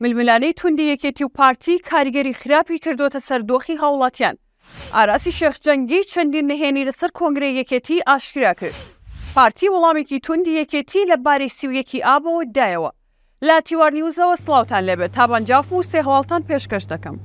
ململانێی توندی یەکێتی و پارتی کاریگەری خراپی کردووەتە سەر دۆخی هاوڵاتیان. ئاراسی شێخ جەنگی چەندین نهێنی لەسەر کۆنگرەی یەکێتی ئاشکرا کرد. پارتی وڵامێکی توندی یەکێتی لە باری سی و یەک ی ئابەوە دایەوە. لە تیوار نیوزەوە سڵاوتان لێبێت، تا بەنجاف بوو سێ هەواڵتان پێشکەش دەکەم.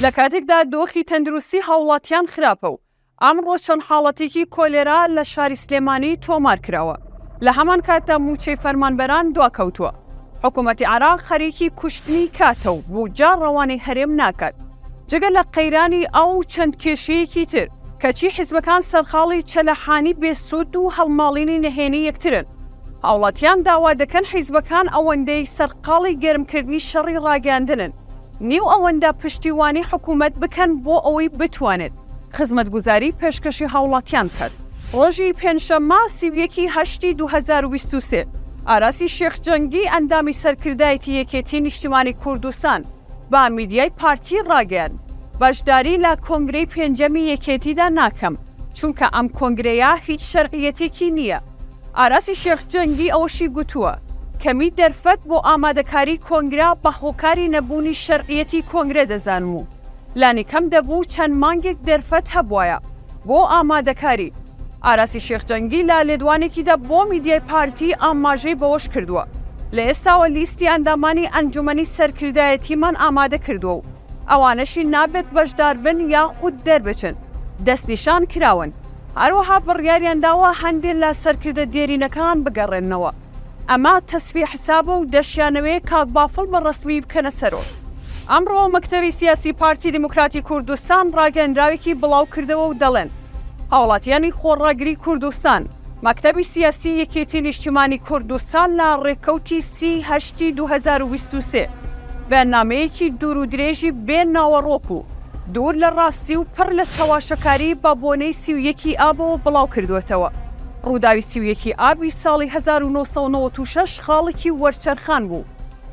لە کاتێکدا دۆخی تەندروستی هاوڵاتیان خراپە و ئەمڕۆ چەند حاڵەتێکی کۆلێرا لە شاری سلێمانی تۆمار کراوە، لە هەمان کاتدا مووچەی فەرمانبەران دواکەوتووە، حکوومەتی عێراق خەریکی کوشتنی کاتە و بووجە ڕەوانەی هەرێم ناکات، جگە لە قەیرانی ئاو و چەند کێشەیەکی تر، کەچی حیزبەکان سەرقاڵی چەلەحانی بێ سوود و هەڵماڵینی نەهێنی یەکترن، هاوڵاتیان داوا دەکەن حیزبەکان ئەوەندەی سەرقاڵی گەرمکردنی شەڕی ڕاگەیاندنن، نیو ئەوەندە پشتیوانی حکومەت بکەن بۆ ئەوەی بتوانێت خزمەتگوزاری پێشکەشی هاوڵاتیان بکات. ڕۆژی پێنجشەممە سی و یەک ی هەشتی دوو هەزار و بیست و سێ، ئاراسی شێخ جەنگی ئەندامی سەرکردایەتی یەکێتی نیشتیمانی کوردستان بە میدیای پارتی ڕاگەیاند، بەشداری لە کۆنگرەی پێنجەمی یەکێتیدا ناکەم، چونکە ئەم کۆنگرەیە هیچ شەرعیەتێکی نییە. ئاراسی شێخ جەنگی ئەوەشی گوتووە، کەمیی دەرفەت بۆ ئامادەکاریی کۆنگرە بە هۆکاری نەبوونی شەرعیەتی کۆنگرە دەزانم و لانیکەم دەبوو چەند مانگێک دەرفەت هەبوایە بۆ ئامادەکاری. ئاراسی شێخ جەنگی لە لێدوانێکیدا بۆ میدیای پارتی ئاماژەی بەوەش کردووە، لە ئێستاوە لیستی ئەندامانی ئەنجومەنی سەرکردایەتیمان ئامادە کردووە و ئەوانەشی نابێت بەشداربن یاخود دەربچن، دەستنیشان کراون. هەروەها بڕیاریان داوە هەندێ لە سەرکردە دێرینەکان بگەڕێننەوە ئەمە تەسفیە حسابە و دەشیانەوێ کاک بافڵ بە ڕەسمی بکەنە سەرۆک. ئەمڕۆ مەکتەبی سیاسی پارتی دیموکراتی کوردستان ڕاگەندراوێکی بڵاو کردەوە و دەڵێن هاوڵاتیانی خۆڕاگری کوردستان مەکتەبی سیاسی یەکێتی نیشتیمانی کوردستان لە ڕێکەوتی سی هەشتی دوو هەزار و بیست و سێ بە نامەیەکی دوور و درێژی بێ ناوەڕۆک و دوور لە ڕاستی و پڕ لە چەواشەکاری بە بۆنەی سی و یەکی ئابەوە بڵاو کردووەتەوە. ڕووداوی سی و یەکی ئابی ساڵی هەزار و نۆ سەد و نەوەد و شەش خاڵێکی وەرچەرخان بوو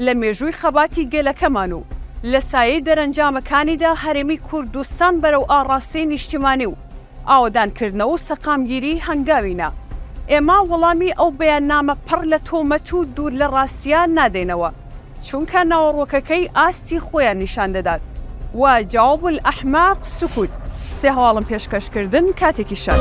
لە مێژووی خەباتی گەلەکەمان و لە سایەی دەرەنجامەکانیدا هەرێمی کوردستان بەرەو ئاڕاستەی نیشتیمانی و ئاوەدانکردنەوە و سەقامگیریی هەنگاوی نا. ئێمە وەڵامی ئەو بەیاننامە پڕ لە تۆمەت و دوور لە ڕاستییە نادەینەوە. چونکە ناوەڕۆکەکەی ئاستی خۆیان نیشان دەدات و جواب الاحماق سکوت، سێ هەواڵم پێشکەش کردن کاتێکی شەر.